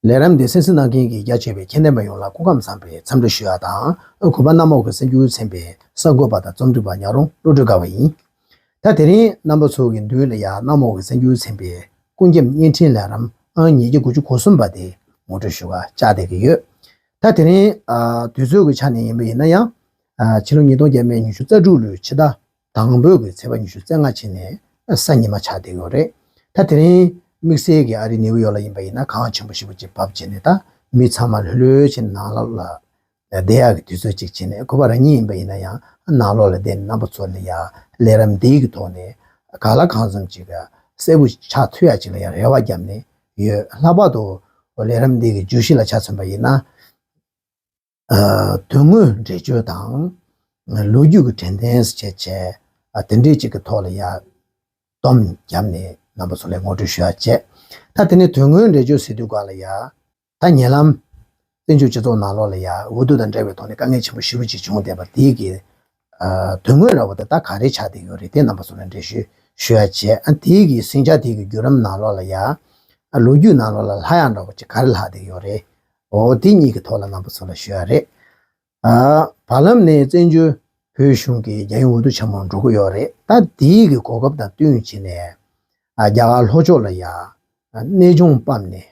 ལས་རམ་འདི་སེམས་སུ་གནང་མཁན་གྱི་རྒྱ་ཆེ་བའི་མཁྱེན་ལྡན་པ་ཡོངས་ལ་སྐུ་ཁམས་བཟང་པོའི་འཚམས་འདྲི་ཞུ་ཡ་དང་ཨོ་གུ་པ་གནམ་འོག་གི་སེམས་འགྱུ་ཚན་པའི་གསར་འགོད་པ་དང་རྩོམ་སྒྲིག་པ་ཉག་རོང་བློ་གྲོས་དགའ་བ་ཡིན། ད་དེ་རིང་རྣམ་པ་ཚོ་གི་མདུན་ལ་ཡང་གནམ་འོག་གི་སེམས་འགྱུ་ཚན་པའི་སྐུ་མཁྱེན་བརྙན་འཕྲིན་ལས་རམ་ཨང་ཉིས་བརྒྱ་དགུ་བཅུ་གོ་གསུམ་པ་དེ་ངོ་སྤྲོད་ཞུ་བར་ལྕག་བསྡད་ཀྱི་ཡོད། ད་དེ་རིང་དུས་ཚོད་ཀྱི་ཆ་ནས་ཡིན་པ་ཡིན་ན་ཡང། ཕྱི་ལོ་ཉིས་སྟོང་བརྒྱད་མའི་ཉི་ཤུ་རྩ་དྲུག་ལོའི་ཕྱི་ཟླ་དང་པོའི་གི་ཚེས་པ་ཉི་ཤུ་རྩེ་ལྔ་ཕྱི་ནས་གསར་ཉི་མ་ཆགས་བསྡད་ཡོད་རེད། ད་དེ་རིང་དམིགས་བསལ་གྱི་ཨ་རི་ནེའུ་ཡོག་ལ་ཡིན་པ་ཡིན་ན་གངས་ཆེན་པོ་ཞིག་པོ་ཅིག་བབས་བྱས་ནས་ད་མི་ཚང་མ་ལྷོད་ལྷོད་བྱས་ནས་ནང་ལོགས་ལ་བསྡད་ཡག་གི་དུས་ཚོད་ཅིག་བྱས་ནས་ཁོ་པ་རང་ཉིད་ཡིན་པ་ཡིན་ན་ཡང་ནང་ལོགས་ལ་བསྡད་ནས་རྣམ་པ་ཚོར་ནས་ཡག་ལས་རམ་འདེགས་ཀྱི་ཐོག་ནས་ག་ལ་གང་འཚམ་ཅིག་གསལ་པོ་ཆགས་ཐུབ་ཡག་ཅིག་ལ་ཡང་རེ་བ་བརྒྱབ་ནས་ཡོད། ལྷག་པར་དུ་ལས་རིམ་འདི་གི་ཇུས་གཞི་ལ་ཆ་མཚོན་པ་ཡིན་ན། དོན་དངོས་འགྲེལ་བརྗོད་དང། ལོ་རྒྱུས་ཀྱི་དྲན་རྟེན་བཅས་དེ་འབྲེལ་གཅིག་གི་ཐོག་ལ་ཡར་བསྡོམས་བརྒྱབ་ནས་རྣམ་པ་ཚོ་ལས་ངོ་སྤྲོད་ཞུ་བ་བྱས། ད་དེ་ནས་དོན་དངོས་འགྲེལ་བརྗོད་ཟེར་དུས་གང་ལ་ཡ། ད་ཉེ་ལམ། བཙན་བྱོལ་སྤྱི་ཚོགས་ནང་ལོགས་ལ་ཡ་ཧུ་དུ་དང་འདྲ་བའི་ཐོག་ནས་དཀའ་ངལ་ཆེན་པོ་ཞི་རུ་ཅིག་བྱུང་བསྡད་པ་དེ་གི་དོན་དངོས་ར་བ་ད་ལྟ་ག་རེ་ཆགས་བསྡད་ཡོད་རེད་དེ་རྣམ་པ་སོགས་ལ་འགྲེལ་བཤད་ཞུ་ཡ་བྱས་ཨ་དེ་གི་ཟིང་ཆ་དེ་གི་བརྒྱུད་རམ་ནང་ལོགས་ལ་ཡ་ལོ་རྒྱུས་ནང་ལོགས་ལ་ལྷ་ཡང་འདྲ་བོ་ཅིག་ག་རེ་ལྷག་བསྡད་ཡོད་རེད་འོ་དེ་གཉིས་གི་ཐོག་ལ་རྣམ་པ་ཚོ་ལ་ཞུ་ཡ་རེད་ཨ། བར་ལམ་ནས་བཙན་བྱོལ་བོད་གཞུང་གི་རྒྱ་ཡུལ་འུ་ཐུག་ཆེན་མོར་འགྲོ་གི་ཡོད་རེད་ད་དེ་གི་གོ་སྐབས་དང་བསྟུན་བྱས་ནས་རྒྱ་གར་ལྷོ་ཕྱོགས་ལ་ཡ་གནས་ཆུང་སྤམ་ནས་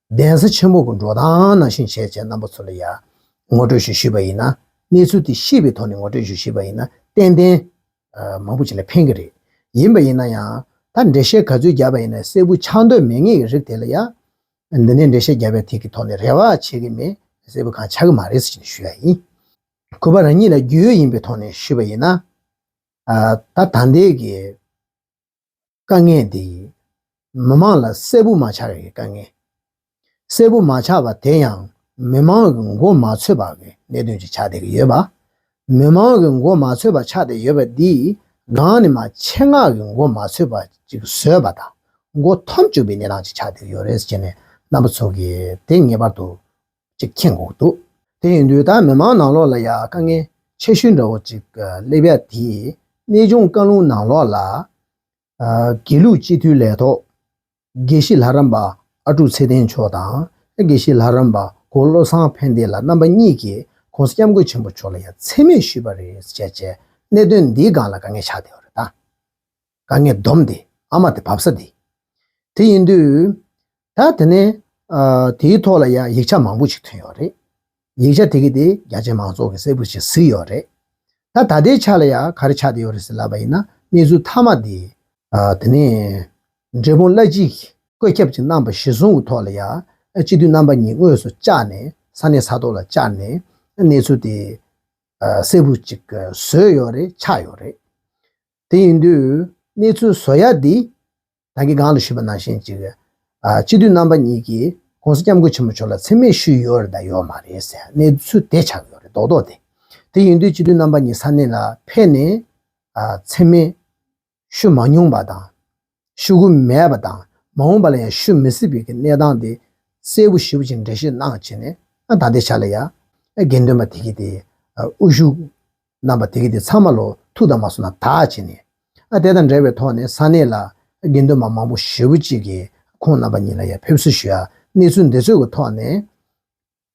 གདན་ས་ཆེན་མོ་དགོན་འགྲོ་དང་ནང་བཞིན་བྱས་བྱས་རྣམ་པ་ཚོ་ལ་ཡང་ངོ་སྤྲོད་ཞུ་ཤེས་པ་ཡིན་ན་གནས་ཚུལ་དེ་ཤེས་པའི་ཐོག་ནས་ངོ་སྤྲོད་ཞུ་ཤེས་པ་ཡིན་ན་ཏན་ཏན། མང་པོ་ཞིག་ལ་ཕན་གྱི་རེད། ཡིན་པ་ཡིན་ན་ཡང་ད་འགྲེལ་བཤད་ག་ཚོད་རྒྱབ་པ་ཡིན་ན་གསལ་པོ་ཆགས་འདོད་མེད་ངེས་ཀྱི་རིགས་དེ་ལ་ཡང། འདི་ནས་འགྲེལ་བཤད་རྒྱབ་པའི་ཐིག་གི་ཐོག་ནས་རེ་བ་བྱེད་ཀྱི་མེད་གསལ་པོ་གང་ཆགས་ཀྱི་མ་རེད་ཟེར་གྱི་ཞུ་ཡ་ཡིན། གུས་པ་རང་ཉིད་ལ་རྒྱུས་ཡོད་ཡིན་པའི་ཐོག་ནས་ཞུས་པ་ཡིན་ན། ད་ད་ལྟའི་གི། དཀའ་ངལ་འདི་ཡིས་མི་དམངས་ལ་གསལ་པོ་མ་ཆགས་ཡི་དཀའ་ངལ། གསལ་པོ་མ་ཆགས་པ་དེ་ཡང་མི་དམངས་ཀྱི་མགོ་མ་ཚོས་པ་གི་གནད་དོན་གྱིས་ཆགས་བསྡད་ཡོད་པ། མི་དམངས་ཀྱི་མགོ་མ་ཚོས་པ་ཆགས་བསྡད་ཡོད་པ་འདིས་གང་ནི་མ་ཆེད་མངགས་ཀྱི་མགོ་མ་ཚོས་པ་ཅིག་བཟོས་པ་དང་མགོ་འཐོམ་བཅུག་པའི་གནས་སྟངས་ཅིག་ཆགས་བསྡད་ཡོད་རེད་ཟེར་ནས་རྣམ་པ་ཚོ་གིས་དེ་ངེས་པར་དུ་ཅིག་མཁྱེན་འོང་འདུག་དེ་ཡིན་དུས་ད་མི་མང་ནང་ལོགས་ལ་ཡང་དཀའ་ངལ་ཆེ་ཤོས་འདྲ་བོ་ཅིག་སླེབས་ཡ་དེ་གནས་ཆུང་བཀའ་ལུང་ནང་ལོགས་ལ། དགེ་ལུགས་སྤྱི་འཐུས་ལས་ཐོག་དགེ་བཤེས་ལྷ་རམས་པ་ཨ་ཀྲུག་ཚེ་བརྟན་མཆོག་དང་དགེ་བཤེས་ལྷ་རམས་པ་གོ་བློ་བཟང་ཕན་བདེ་ལ་རྣམ་པ་གཉིས་ཀྱིས་ཁོང་སྐྱབས་མགོན་ཆེན་པོ་མཆོག་ལ་ཡང་འཚེ་མེད་ཞུས་པ་རེད་ཟེར་བྱས་རྗེས་གནད་དོན་འདིའི་སྒང་ལ་དཀའ་ངལ་ཆགས་བསྡད་པ་རེད་ད། དཀའ་ངལ་སྡོམ་སྟེ་ཨ་མ་དེ་བབས་ས་དེ་དེ་ཡིན་དུས། ད་དེ་ནས་དེའི་ཐོག་ལ་ཡང་ཡིག་ཆ་མང་པོ་ཞིག་ཐོན་ཡོད་རེད། ཡིག་ཆ་དེ་གི་དེ་རྒྱ་ཆེ་མང་ཚོགས་ཀྱི་གསལ་པོར་ཞིག་གཟིགས་ཡོད་རེད། ད་ད་ལྟའི་ཆ་ལ་ཡང་ག་རེ་ཆགས་བསྡད་ཡོད་རེད་ཟེར་ལབ་པ་ཡིན་ན་གནས་ཚུལ་མཐའ་མ་དེ། དེ་ནས་འབྲས་སྤུངས་བླ་སྤྱི་གིས་བཀོད་ཁྱབ་ཅིག་གནང་བ་གཞི་བཟུང་གི་ཐོག་ལ་ཡང་སྤྱི་འཐུས་རྣམ་པ་གཉིས་དངོས་སུ་བཅར་ནས་ས་གནས་ས་ཐོག་ལ་བཅར་ནས་གནས་ཚུལ་དེ་གསལ་པོ་ཅིག་བཟོས་ཡོད་རེད་ཆགས་ཡོད་རེད། དེ་ཡིན་དུས་གནས་ཚུལ་བཟོ་ཡ་འདི་རང་གི་སྒང་ལ་བཞུད་པ་ནང་བཞིན་ཅིག་རེད། སྤྱི་འཐུས་རྣམ་པ་གཉིས་ཀྱིས ྋགོང་ས ྋསྐྱབས་མགོན་ཆེན་པོ་མཆོག་ལ་འཚེ་མེད་ཞུས་ཡོད་རེད་དང་ཡོད་མ་རེད་ཟེར་གནས་ཚུལ་དེ་ཆགས་ཡོད་རེད་མདོག་མདོག་དེ། དེ་ཡིན་དུས་སྤྱི་འཐུས་རྣམ་པ་གཉིས་ས་གནས་ལ་ཕེབས་ནས་འཚེ་མེད་ཞུས་མ་མྱོང་པ་དང། ཤུ་གུ་མེད་པ་དང་མ་འོངས་པ་ལ་ཡང་ཤུ་མི་སྲིད་པའི་གི་གནས་སྟངས་དེ་གསལ་བོ་ཞིབ་ཅིང་འགྲེལ་བཤད་གནང་བྱས་ནས་ད་ལྟའི་ཆ་ལ་ཡང་དགེ་འདུན་པ་དེ་གི་དེ་དབུ་བཞུགས་རྣམ་པ་དེ་གི་དེ་ཚང་མ་ལོ་ཐུགས་དང་མ་སོ་ན་དག་བྱས་ནས་དེ་དང་འབྲེལ་བའི་ཐོག་ནས་ས་གནས་ལ་དགེ་འདུན་པ་མང་པོ་ཞེ་བོ་གཅིག་གིས་ཁོང་རྣམ་པ་གཉིས་ལ་ཡང་ཕེབས་བསུ་ཞུ་ཡ་གནས་ཚུལ་འདི་ཚོད་ཀི་ཐོག་ནས།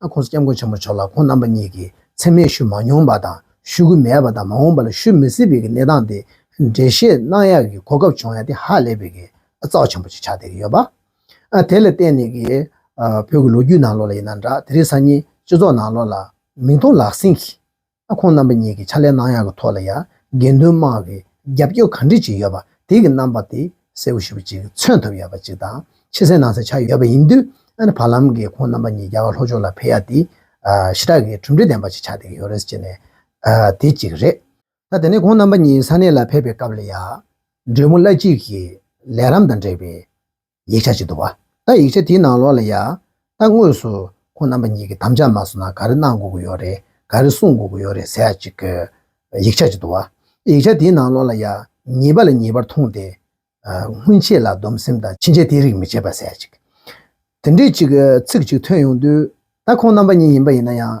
ཨ་ཁོང་སྐྱབས་མགོན་ཆེན་པོ་མཆོག་ལ་ཁོང་རྣམ་པ་གཉིས་ཀྱིས་མཚན་སྨད་ཞུ་མ་མྱོང་པ་དང་ཞུ་གི་མེད་པ་དང་མ་འོངས་པ་ལ་ཞུ་མི་སྲིད་པའི་གི་གནས་སྟངས་དེ་འགྲེལ་བཤད་གནང་ཡག་གི་གོ་སྐབས་བྱུང་ཡ་དེ་ཧ་ལས་པའི་གི་རྩའོ་ཆེན་པོ་ཅིག་ཆགས་བསྡད་གི་ཡོད་པ། དེ་ལ་བརྟེན་ནས་གི་བོད་གི་ལོ་རྒྱུས་ནང་ལོགས་ལ་ཡིན་ན་འདྲ་དེ་རིང་སང་ཉིན་སྤྱི་ཚོགས་ནང་ལོགས་ལ་མིང་མཐོང་ལག་ཟིན་གི། ཨ་ཁོང་རྣམ་པ་གཉིས་ཀྱིས་ཕྱག་ལས་གནང་ཡག་གི་ཐོག་ལ་ཡང་དགེ་འདུན་དམངས་ཀྱིས་རྒྱབ་སྐྱོར་ག་འདྲི་བྱེད་ཡོད་པ་དེ་གི་རྣམ་པ་དེ་གསལ་བོ་ཞུ་བ་ཅིག་མཚོན་ཐུབ་ཡོད་པ་ཅིག་དང་ཕྱི་གསལ་ནང་གསལ་ཆགས་ཡོད་པ་ཡིན་དུས་ཨ་ནི་བར་ལམ་གྱི་ཁོང་རྣམ་པ་གཉིས་རྒྱ་གར་ལྷོ་ཕྱོགས་ལ་ཕེབས་ཡག་དེ་ཞི་དྲག་གི་གྲུབ་འབྲས་ལྡན་པ་ཅིག་ཆགས་བསྡད་ཀྱི་ཡོད་རེད་ཅེས་ནས་དེ་གཅིག་རེད། ད་དེ་ནས་ཁོང་རྣམ་པ་གཉིས་ས་གནས་ལ་ཕེབས་པའི་སྐབས་ལ་ཡང་འབྲེལ་མོ་བླ་སྤྱི་གིས་ལས་རམ་དང་འབྲེལ་བའི་ཡིག་ཆ་ཅིག་ཏུ་བ། ད་ཡིག་ཆ་དེའི་ནང་ལོགས་ལ་ཡ། ད་དངོས་སུ་ཁོང་རྣམ་པ་གཉིས་ཀྱི་དམ་བཅའ་མ་སོང་ན་ག་རེ་གནང་དགོས་ཀྱི་ཡོད་རེད་ག་རེ་གསུང་དགོས་ཀྱི་ཡོད་རེད་ཟེར་ཡ་གཅིག་གི། ཡིག་ཆ་ཅིག་ཏུ་བ། ཡིག་ཆ་དེའི་ནང་ལོགས་ལ་ཡ། ཉེས་པ་ལ་ཉེས་པར་མཐོང་སྟེ། སྔོན་ཆད་ལ་སྡོམ་སེམས་དང་ཕྱིན་ཆད་དེ་རིགས་མི་བྱེད་པ་ཟེར་ཡ་གཅིག། དེ་འདྲའི་གཅིག་གི་ཚིག་ཅིག་ཐོན་ཡོང་དུས། ད་ཁོང་རྣམ་པ་གཉིས་ཡིན་པ་ཡིན་ན་ཡང།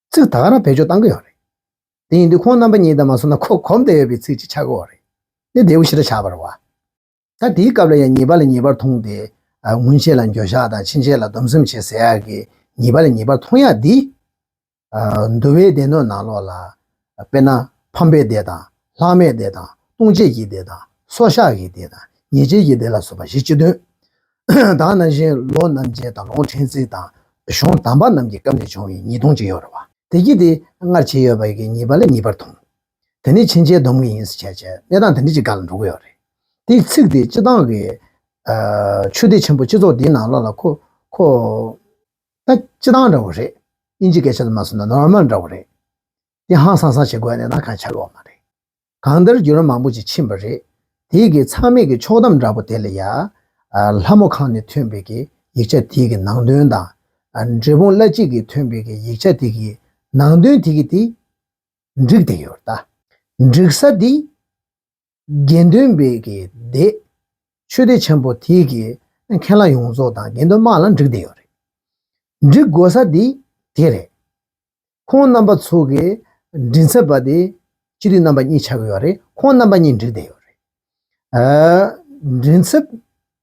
ཚིག་དག་ར་བེད་སྤྱོད་གཏང་གི་ཡོད་རེད། དེ་ཡིན་དུས་ཁོང་རྣམ་པ་གཉིས་དང་མ་སོང་ན་ཁོ་གོམས་དེ་ཡོད་པའི་ཚིག་ཅིག་ཆགས་གི་འོ་རེད། དེ་རྡེའུ་ཤི་ར་ཆགས་པར་བ། ད་དེའི་སྐབས་ལ་ཡང་ཉེས་པ་ལ་ཉེས་པར་མཐོང་སྟེ། སྔོན་ཆད་ལ་འགྱོད་བཤགས་དང་ཕྱིན་ཆད་ལ་སྡོམ་གསུམ་བྱེད་ཟེར་ཡག་གི་ཉེས་པ་ལ་ཉེས་པར་མཐོང་ཡག་འདི། འདུལ་བའི་སྡེ་སྣོད་ནང་ལོགས་ལ། དཔེར་ན། ཕམ་པའི་སྡེ་དང། ལྷག་མའི་སྡེ་དང། ལྟུང་བྱེད་ཀྱི་སྡེ་དང། སྲོག་བཤགས་ཀྱི་སྡེ་དང། ཉེས་བྱས་ཀྱི་སྡེ་ལ་སོགས་པ་བཞི་སྤྱི་དོན། དང་ན་གཞོན་ལོ་རྣམ་རྒྱལ་དང་ལོང་ཁྲེང་ཙི་དང་གཞོང་དམ་པ་རྣམས་ཀྱི་སྐབས་ནས་བྱུང་བའི་ཉིས་སྟོང་གཅིག་ཡོད་རེད་བ། དེ་སྐྱིད་དེ་སྔར་བྱས་ཡོད་པའི་གི་ཉིས་པ་ལས་གཉིས་པར་ཐོངས། དེ་ནི་ཕྱིན་ཆད་སྡོམ་གི་ཡིན་ཟེར་བྱས་བྱས་གནས་སྟངས་དེ་འདྲ་ཅིག་འགག་ལ་འགྲོ་གི་ཡོད་རེད། དེའི་ཚིག་དེ་སྤྱི་བཏང་གི། ཆོས་སྡེ་ཆེན་པོ་སྤྱི་ཚོགས་འདིའི་ནང་ལོག་ལ་ཁོ། ཁོ། ད་སྤྱི་བཏང་འདྲ་བོ་རེད། དབྱིན་ཇི་སྐད་ཆ་ལ་མ་སོན་ན Normal འདྲ་བོ་རེད། ཀྱི་ཧང་སང་སང་བྱེད་དགོས་ནས་ན་ག་ཆ་ལོག་མ་རེད། གང་འདིར་རྒྱུ་ར་མང་པོ་ཅིག་ཕྱིན་པ་རེད། དེའི་གི་ཚང་མིག་གི་ཕྱོགས་གཏམ་འདྲ་པོ་དེ་ལ་ཡ། ལྷ་མོ་ཁང་ནས་ཐོན་པའི་གི་ཡིག་ཆ་དེའི་གི་ནང་དོན་དང། འབྲས་སྤུངས་བླ་སྤྱི་གིས་ཐོན་པའི་གི་ཡིག་ཆ་དེའི་གི་ནང་དོན་དེ་གི་དེ། འགྲིག་བསྡད་ཡོད་རེད་ད། འགྲིག་ས་དེ། དགེ་འདུན་སྦས་ཀྱིས་བསྡད། ཆོས་སྡེ་ཆེན་པོ་དེ་གའི་མཁན་བླ་ཡོངས་རྫོགས་དང་དགེ་འདུན་དམག་ལ་འགྲིག་བསྡད་ཡོད་རེད། འགྲིག་དགོས་ས་དེ་དེ་རེད། ཁོང་རྣམ་པ་ཚོ་གི་མགྲིན་ཚབ་པ་དེ་སྤྱི་འཐུས་རྣམ་པ་གཉིས་ཆགས་ཡོད་རེད་ཁོང་རྣམ་པ་གཉིས་འགྲིག་བསྡད་ཡོད་རེད། མགྲིན་ཚབ་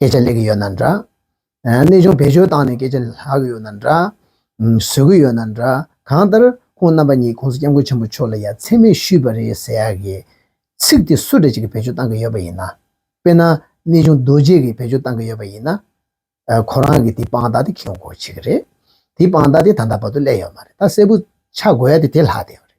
སྐད་ཆ་ལེགས་གི་ཡོད་ན་འདྲ། གནས་ཆུང་བེད་སྤྱོད་བཏང་ནས་སྐད་ཆ་ལྷག་གི་ཡོད་ན་འདྲ། བཟོད་གི་ཡོད་ན་འདྲ། གང་ལྟར་ཁོང་རྣམ་པ་གཉིས ྋགོང་ས་སྐྱབས་མགོན་ཆེན་པོ་མཆོག་ལ་ཡ་མཚན་མེད་ཞུས་པ་རེད་ཟེར་ཡག་གི། ཚིག་དེ་སུ་རེད་ཅིག་གི་བེད་སྤྱོད་བཏང་གི་ཡོད་པ་ཡིན་ན། དཔེར་ན། གནས་ཆུང་རྡོ་རྗེ་གི་བེད་སྤྱོད་བཏང་གི་ཡོད་པ་ཡིན་ན། ཁོ་རང་གི་དེ་དཔང་རྟགས་དེ་ཁེའུ་འཁོར་བྱེད་གི་རེད། དེ་དཔང་རྟགས་དེ་ད་ལྟ་བར་དུ་བསླད་ཡོད་མ་རེད་ད་གསལ་པོ་ཆགས་དགོས་ཡ་དེ་དེ་ལྷག་བསྡད་ཡོད་རེད།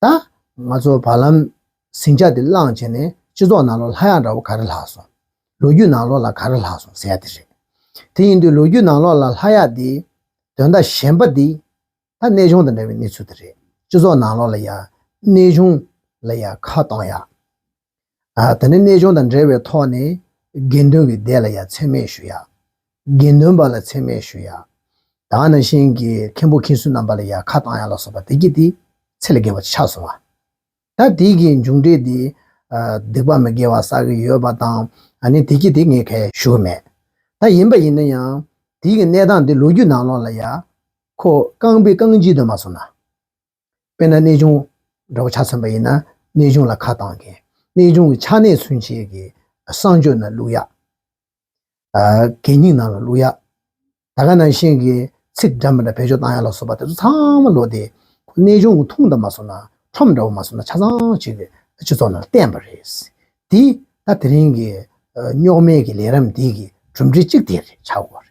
ད་ང་ཚོ་བར་ལམ་ཟིང་ཆ་དེ་བསླངས་བྱས་ནས་སྤྱི་ཚོགས་ནང་ལོག་ལྷ་ཡག་འདྲ་བོ་ག་རེ་ལྷག་སོང། ལོ་རྒྱུས་ནང་ལོག་ལ་ག་རེ་ལྷག་སོང་ཟེར་ཡ་དེ་རེད། དེ་ཡིན་དུས་ལོ་རྒྱུས་ནང་ལོག་ལ་ལྷ་ཡག་འདི། དོན་དག་གཞན་པ་འདི། ད་གནས་གཞུང་དང་འདྲ་བའི་གནས་ཚུལ་དེ་རེད། སྤྱི་ཚོགས་ནང་ལོག་ལ་ཡག། གནས་གཞུང་ལ་ཡག་ཁ་གཏོང་ཡག། ད་ནི་གནས་སྦྱོང་དང་འབྲེལ་བའི་ཐོག་ནས་དགེ་འདུན་གྱི་སྡེ་ལ་ཡང་མཚན་སྨད་ཞུ་ཡག། དགེ་འདུན་པ་ལ་མཚན་སྨད་ཞུ་ཡག། དག་ན་ཤིང་གི་མཁན་པོ་མཁན་ཟུར་རྣམ་པ་ལ་ཡང་ཁ་བཏང་ཡག་ལ་སོགས་པ་དེ་གྱིས་དེ་ཚེ་ལ་དགེ་བ་ཆགས་སོང་བ། ད་དེ་གྱི་མཇུག་འབྲས་དེ་སྡིག་པ་མི་དགེ་བ་བསགས་ཀྱི་ཡོད་པ་དང་ད་ནི་དེ་གྱིས་དེ་ངས་ཁ་ཞུ་གི་མེད། ད་ཡིན་པ་ཡིན་ན་ཡང་དེ་གྱི་གནས་སྟངས་དེ་ལོ་རྒྱུས་ནང་ལོགས་ལ་ཡང་ཁོ་རྐང་པའི་རྐང་གཅིག་དུ་མ་སོང་ན། དཔེར་ན་གནས་ཆུང་འདྲ་བོ་ཆ་མཚོན་པ་ཡིན་ན་གནས་ཆུང་ལ་ཁ་བཏང་མཁན། གནས་ཆུང་གི་ཆ་གནས་མཚོན་བྱེད་ཀྱི་གསང་སྤྱོད་ནང་བླུགས་ཡག། གད་སྙིགས་ནང་ལ་བླུགས་ཡག། ད་ག་ནང་བཞིན་གྱི་ཚིག་འདྲ་མི་འདྲ་བེད་སྤྱོད་བཏང་ཡག་ལ་སོགས་པ་དེ་ཚོ་ཚང་མ་ལོག་སྟེ་ཁོ་གནས་ཆུང་གི་ཐུང་འདྲ་མ་སོང་ན་ཁྲོམ་འདྲ་བོ་མ་སོང་ན་ཆ་ཚང་བྱེད་ཀྱི་སྤྱི་ཚོགས་ནང་བསྟན་པ་རེད། དེ་ད་དེ་རིང་གི་རྙོག་མེད་ཀྱི་ལས་རམ་འདི་གི་གྲུབ་འབྲས་གཅིག་དེ་རེད་ཆགས་དགོས་པ་རེད།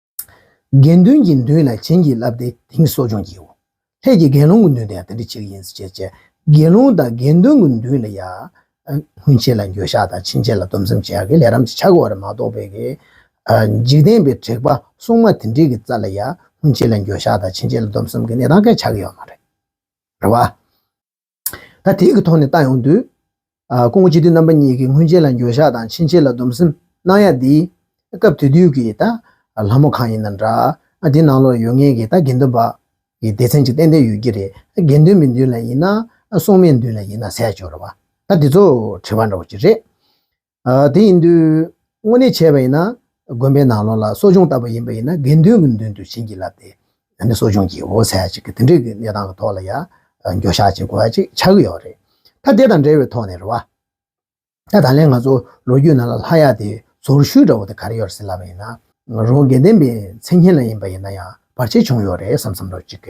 དགེ་འདུན་གྱི་མདུན་ལ་བྱིན་གྱིས་བརླབས་ཏེ་དེང་གསོ་སྦྱོང་བགྱིའོ། ལྷས་ཀྱིས་དགེ་སློང་གི་མདུན་དུ་ཡང་དེ་འདི་བྱེད་ཀྱི་ཡིན་ཟེར་ཅེས་དགེ་སློང་དང་དགེ་འདུན་གྱི་མདུན་ལ་ཡང། སྔོན་ཆད་ལ་འགྱོད་བཤགས་དང་ཕྱིན་ཆད་ལ་སྡོམ་བསམ་བྱ་གི་ལས་རམ་གྱི་ཆ་བགོ་བར་མ་གཏོགས་པའི་གི། འཇིག་རྟེན་པའི་དྲེགས་པ་སྲུང་མ་དེ་འདྲིའི་གི་རྩ་ལ་ཡང་སྔོན་ཆད་ལ་འགྱོད་བཤགས་དང་ཕྱིན་ཆད་ལ་སྡོམ་བསམ་གི་གནས་དང་གི་ཆ་གི་ཡོད་མ་རེད། རེད་བ། ད་ཐེངས་ཀྱི་ཐོག་ནས་ཏང་ཡོངས་དུས་ཀུན་གཅིག་སྡུད་རྣམ་པ་གཉིས་ཀྱི་སྔོན་ཆད་ལ་འགྱོད་བཤགས་དང་ཕྱིན་ཆད་ལ་སྡོམ་སེམས་གནང་ཡ་འདི་སྐབས་དེ་དུས་ཀྱི་ད་ལྷ་མོ་གང་ཡིན་ན་འདྲ་ཨ་འདི་ནང་ལོག་ཡོད་ངེས་ཀྱི་ད་དགེ་འདུན་པ་ཡི་སྡེ་ཚན་གཅིག་ཏན་ཏན་ཡོད་ཀྱི་རེད་དགེ་འདུན་མི་འདུན་ལ་ཡིན་ན་སྲུང་མའི་འདུན་ལ་ཡིན་ན་ཟས་སྤྱོར་བ་ད་འདི་ཚོ་དྲི་བ་འདྲ་བོ་གཅིག་རེད་དེ་ཡིན་དུས་དངོས་གནས་བྱས་པ་ཡིན་ན་དགོན་པའི་ནང་ལོགས་ལ་གསོ་སྦྱོང་ལྟ་བུ་ཡིན་པ་ཡིན་ན་དགེ་འདུན་གྱི་མདུན་དུ་བྱིན་གྱིས་བརླབས་ཏེ་ཡང་ནི་གསོ་སྦྱོང་གྱི་འོ་ཟད་ཅིག་གི་དེ་འདྲའི་གནས་སྟངས་ཀྱི་ཐོག་ལ་ཡང་འགྱོད་བཤགས་བྱེད་དགོས་པ་ཅིག་ཆགས་ཀྱི་ཡོད་རེད། ད་དེ་དང་འབྲེལ་བའི་ཐོག་ནས་རེད་བ། ད་ད་ལན་ང་ཚོ་ལོ་རྒྱུས་ནང་ལ་ལྷ་ཡག་དེ་ཟོར་ཤུལ་འདྲ་བོ་དེ་ག་རེ་ཡོད་རེད་ཟེར་ལབ་པ་ཡིན་ན་རང་དགེ་ལྡན་པའི་མཚན་སྙན་ལ་ཡིན་པ་ཡིན་ན་ཡང་བར་ཆད་བྱུང་ཡོད་རེད་བསམ་བསམ་རོགས་ཅིག།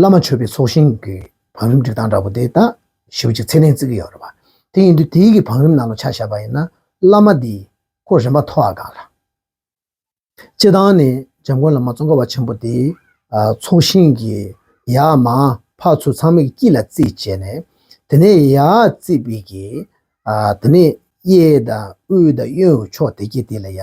བླ་མ་མཆོད་པའི་ཚོགས་ཞིང་གི་བང་རིམ་སྒྲིག་སྟངས་འདྲ་པོ་དེ་དག་ཞིབ་གཅིག་ཚད་ལྡན་བརྩི་གི་ཡོད་རེད་པ། དེ་ཡིན་དུས་དེའི་གི་བང་རིམ་ནང་ལ་ཆ་བཞག་པ་ཡིན་ན་བླ་མ་འདིས་ཁོ་རེ་མ་ཐོ་ཨ་གང་ལ། སྤྱི་བཏང་ནས་འཇམ་མགོན་བླ་མ་ཙོང་ཁ་བ་ཆེན་པོ་དེས་ཚོགས་ཞིང་གི་ཡ་མ་ཕག་ཚོས་ཚང་མའི་དཀྱིལ་ལ་རྩིས་བྱས་ནས་དེ་ནས་ཡ་རྩིས་པའི་གི། དེ་ནས་གཡས་དང་དབུས་དང་གཡོན་ཕྱོགས་དེ་གི་དེ་ལ་ཡ།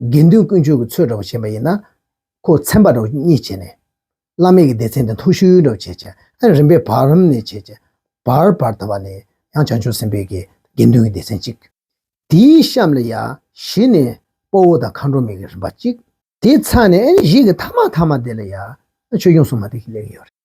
དགེ་འདུན་དཀོན་མཆོག་གི་ཚོས་འདྲ་བོ་བྱེད་པ་ཡིན་ན། ཁོ་མཚན་པ་འདྲ་བོ་གཉིས་བྱེད་ནས། བླ་མེད་ཀྱི་སྡེ་ཚན་དེ་མཐོ་ཤོས་འདྲ་བོ་བྱེད། ཅེས་རིམ་པས་བར་རམ་ནས་བྱེད། ཅེས་བར་བར་དང་བ་ནས་ཡང་བྱང་ཆུབ་སེམས་དཔའི་དགེ་འདུན་གྱི་སྡེ་ཚན་གཅིག། དེའི་གཤམ་ལ་ཡང་བཞི་ནས་དཔའ་བོ་དང་མཁའ་འགྲོ་མའི་གྱི་རིམ་པ་གཅིག། དེའི་ཚ་ནས་གཞན་གྱི་ཐ་མ་ཐ་མ་དེ་ལ་ཡང་ཆོས་སྐྱོང་སྲུང་མ་དེ་གཉིས་ཡོད་རེད།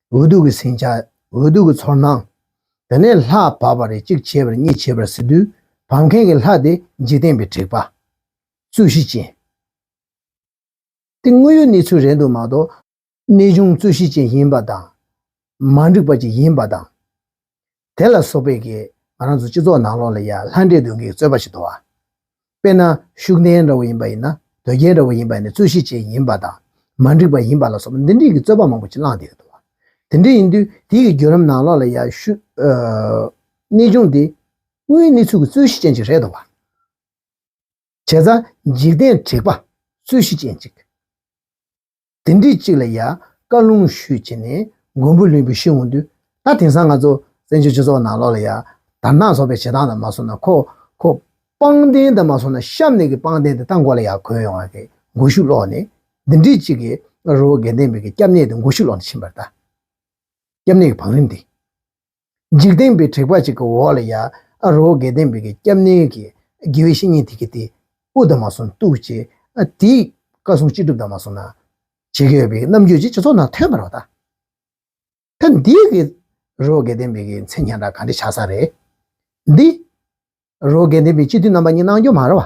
འོ་དུག་གི་ཟིང་ཆ། འོ་དུག་གི་ཚོར་སྣང། དེ་ནས་ལྷ་བབས་པ་རེ་གཅིག་བྱས་པར་གཉིས་བྱས་པར་ཟེར་དུས་བབས་མཁན་གྱི་ལྷ་དེ་འཇིག་རྟེན་པའི་དྲེགས་པ། རྩོད་གཞི་ཅན། དེ་དངོས་ཡོད་གནས་ཚུལ་རེད་འདུག་མ་གཏོགས། གནས་ཆུང་རྩོད་གཞི་ཅན་ཡིན་པ་དང། མ་འགྲིག་པ་ཅིག་ཡིན་པ་དང། དེ་ལ་སོགས་པས་ཀྱིས་ང་རང་ཚོ་སྤྱི་ཚོགས་ནང་ལོགས་ལ་ཡ་ལྷ་འདྲེ་གདོན་གྱིས་གཙོས་པ་ཞིག་འདུག་བ། དཔེར་ན་ཤུགས་ལྡན་འདྲ་བོ་ཡིན་པ་ཡིན་ན་དོལ་རྒྱལ་འདྲ་བོ་ཡིན་པ་ཡིན་ན་རྩོད་གཞི་ཅན་ཡིན་པ་དང་མ་འགྲིག་པ་ཡིན་པ་ལ་སོགས་པ་འདི་འདྲིས་ཀྱི་རྩོད་པ་མང་པོ་ཅིག་བསླངས་བསྡད་ཡོད་འདུག་བ། དེ་འདྲ་ཡིན་དུས་དེའི་ཀྱི་བརྒྱུད་རིམ་ནང་ལོགས་ལ་ཡ་ཤུགས། གནས་ཆུང་འདི། དངོས་ཡོད་གནས་ཚུལ་གྱི་རྩོད་གཞི་ཅན་ཅིག་རེད་འདུག་བ། བྱས་ཙང་འཇིག་རྟེན་དྲེགས་པ་རྩོད་གཞི་ཅན་ཅིག། དེ་འདྲའི་གཅིག་ལ་ཡང་བཀའ་ལུང་ཞུས་བྱས་ནས་མགོན་པོ་ལུས་པོའི་ཤེས་འོང་དུས་ད་དེང་སང་ང་ཚོ་བཙན་བྱོལ་སྤྱི་ཚོགས་ནང་ལོག་ལ་ཡང་དར་ནག་ཚོགས་པའི་བྱེད་སྟངས་དང་མ་སོང་ན་ཁོ་ཁོ་པང་གདན་དང་མ་སོང་ན་གཤམ་ནས་ཀྱི་པང་གདན་དེ་ད་མགོ་ལ་ཡང་གོན་ཡོང་བ་གི་མགོ་ཤུགས་ལོག་ནས་འདི་འདྲའི་གཅིག་གི་རོ་བོ་རྒན་བསྟན་པའི་གི་སྐྱབས་གནས་དེ་མགོ་ཤུགས་ལོག་ནས་ཕྱིན་པར་གདའ། སྐྱབས་གནས་ཀྱི་བང་རིམ་དེ། འཇིག་རྟེན་པའི་དྲེགས་པ་གཅིག་གི་འོག་ལ་ཡང་ཨ་རོ་གས་ལྡན་པའི་སྐྱབས་གནས་ཀྱི་དགེ་བའི་བཤེས་གཉེན་དེ་གི་དེ་དབུ་ལྡན་མ་གསུམ་བཏུག་ཅིག་དེས་བཀའ་སྲུང་ཅི་སྒྲུབ་དང་མ་གསུང་ན། བྱེད་ཀྱི་ཡོད་པའི་རྣམ་འགྱུར་གྱིས་སྤྱི་ཚོགས་ནང་ཐོན་པར་བ་དང། ད་འདི་གི་ཨ་རོ་གས་ལྡན་པའི་གི་མཚན་ཁྱེད་རང་ག་འདྲི་ཆགས་ས་རེད། འདི་ཨ་རོ་གས་ལྡན་པའི་སྤྱི་འཐུས་རྣམ་པ་གཉིས་གནང་རྒྱུ་མ་རེད་བ།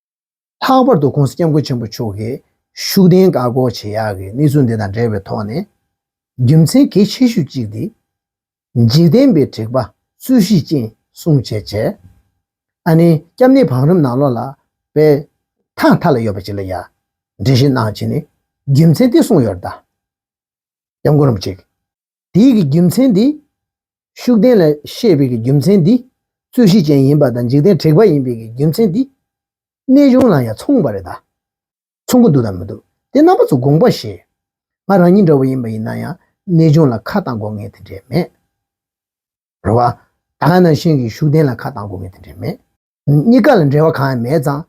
ལྷག་པར་དུ་ཁོང་སྐྱབས་མགོན་ཆེན་པོ་མཆོག་གི་ཤུགས་ལྡན་བཀག་འགོག་བྱེད་ཡག་གི་གནས་ཚུལ་འདི་དང་འབྲེལ་བའི་ཐོག་ནས། རྒྱུ་མཚན་གལ་ཆེ་ཤོས་གཅིག་འདི། འཇིག་རྟེན་པའི་དྲེགས་པ་སུ་གཞི་ཅན་སྲུང་བྱེད་ཆེ། ཨ་ནེ་སྐྱབས་གནས་བང་རིམ་ནང་ལོགས་ལ་པའི་ཐང་མཐའ་ལ་ཡོད་པ་ཅིག་ལ་ཡང་འགྲེལ་བཤད་གནང་བྱས་ནས་རྒྱུ་མཚན་དེ་གསུངས་ཡོད་ར་ད། སྐྱབས་མགོན་རམ་ཅིག། དེའི་གི་རྒྱུ་མཚན་དེ། ཤུགས་ལྡན་ལ་ཤེས་པའི་གི་རྒྱུ་མཚན་དེ། རྩོད་གཞི་ཅན་ཡིན་པ་དང་འཇིག་རྟེན་དྲེགས་པ་ཡིན་པའི་གི་རྒྱུ་མཚན་དེ། གནས་གཞུང་ལ་ཡང་མཚུངས་པ་རེད་ད། མཚུངས་ཀྱི་འདུག་དང་མི་འདུག་དེ་རྣམ་པ་ཚོ་དགོངས་པ་བཞིན། ང་རང་ཉིད་འདྲ་བོ་ཡིན་པ་ཡིན་ན་ཡང་གནས་གཞུང་ལ་ཁ་བཏང་དགོས་ངེས་དེ་འདྲས་མེད། རེད་བ། ད་ང་ནང་བཞིན་གྱི་ཤུགས་ལྡན་ལ་ཁ་བཏང་དགོས་ངེས་དེ་འདྲས་མེད། གཉིས་ཀ་ལ་འབྲེལ་བ་གང་ཡང་མེད་ཙང་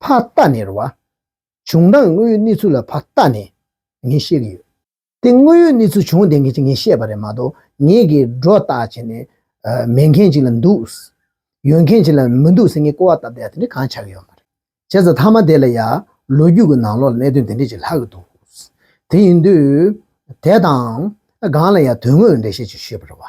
ཕ་རྟགས་ནས་རུ་བ། བྱུང་སྟངས་དངོས་ཡོད་གནས་ཚུལ་ལ་ཕ་རྟགས་ནས་ངས་བཤད་ཀྱི་ཡོད། དེ་དངོས་ཡོད་གནས་ཚུལ་བྱུང་བ་དེ་ངས་ངས་བཤད་པ་རེད་མ་གཏོགས་ངས་ཀྱི་སྒྲོ་བཏགས་བྱས་ནས་མེད་མཁན་ཞིག་ལ་འདུག་ཡོད་མཁན་ཞིག་ལ་མི་འདུག་ཟེར་ངས་ཀོ་བ་བཏབ་བསྡད་ཡ་དེ་འདྲས་གང་ཆགས་ཀྱི་ཡོད་མ་རེད། བྱས་ཙང་མཐའ་མ་དེ་ལ་ཡ་ལོ་རྒྱུས་ཀྱི་ནང་ལོགས་ལ་གནད་དོན་དེ་འདྲས་ཅིག་ལྷག་གི་འདུག་དེ་ཡིན་དུས་དེ་དང་གང་ལ་ཡ་དོན་དངོས་འགྲེལ་བཤད་ཅིག་ཞུས་པར་རུ་བ།